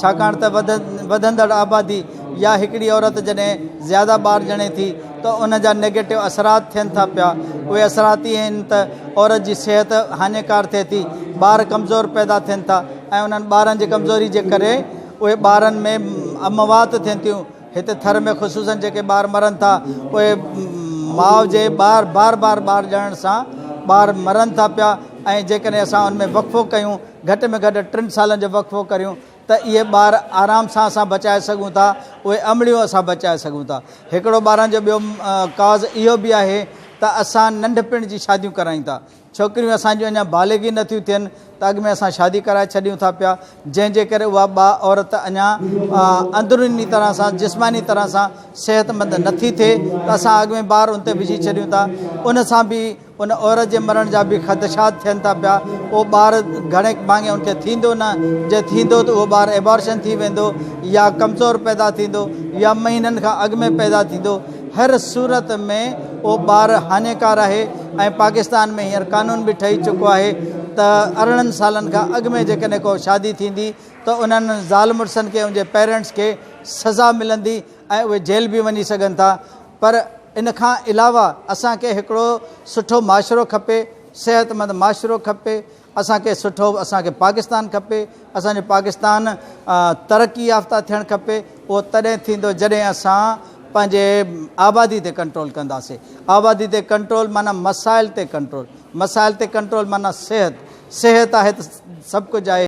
ڇاڪاڻ ته وڌندڙ آبادي يا هڪڙي عورت جڏهن زياده ٻار ڄڻي ٿي ته ان جا نيگيٽو اثرات ٿين ٿا پيا. اهي اثرات اهي آهن ته عورت جي صحت هاڃيڪار ٿئي ٿي، ٻار ڪمزور پيدا ٿين ٿا ۽ انهن ٻارن جي ڪمزوري جي ڪري اهي ٻارن ۾ اموات ٿين ٿيون. هتي ٿر ۾ خصوصن جيڪي ٻار مرن ٿا اهي ماء جي ٻار بار بار ٻار ڄڻڻ سان ٻار مرن ٿا پيا ۽ جيڪڏهن اسان ان ۾ وقفو ڪيون گهٽ ۾ گهٽ ٽن سالن جو وقفو ڪريون ته اهي ٻار آرام سان اسان بچائي سگهون ٿا اهي امڙيون اسان بچائي سگهون ٿا هڪڙو ٻارن جو ٻيو ڪاز اهو به آهي ته اسان ننڍپڻ جي شاديون ڪرايون ٿا ڇوڪريون اسان جون اڃا بالغ ئي نه ٿيون ٿين ته اڳ ۾ اسان شادي ڪرائي ڇڏيون ٿا پيا، جنهن جي ڪري اها ٻا عورت اڃا اندروني طرح سان جسماني طرح سان صحتمند نه ٿي ٿئي ته اسان اڳ ۾ ٻار ان تي وجهي ڇڏيون ٿا، ان سان به ان عورت جي مرڻ جا به خدشات ٿين ٿا پيا، اهو ٻار گهڻي ڀاڱي ان کي ٿيندو نه، جي ٿيندو ته اهو ٻار ابارشن ٿي ويندو يا ڪمزور پيدا ٿيندو يا مهينن کان اڳ ۾ پيدا ٿيندو. هر صورت ۾ اهو ٻار هاڃيڪار آهي ۽ پاڪستان ۾ هينئر قانون به ٺهي چڪو آهي ته ارڙهن سالن کان اڳ ۾ جيڪڏهن ڪو شادي ٿيندي ته انهن زال مڙسن کي ان جي پيرنٽس کي سزا ملندي ۽ اهي جيل به وڃي سگهن ٿا پر ان کان علاوه اسان کي هڪڙو سٺو معاشرو کپي صحتمند معاشرو کپي اسان کي سٺو اسان کي پاڪستان کپي اسان جو پاڪستان ترقي يافته ٿيڻ کپي اهو تڏهن ٿيندو جڏهن اسان پنهنجي آبادي تي ڪنٽرول ڪنداسي آبادي تي ڪنٽرول معنی مسائل تي ڪنٽرول مسائل تي ڪنٽرول معنی صحت صحت آهي ته سڀ ڪجهه آهي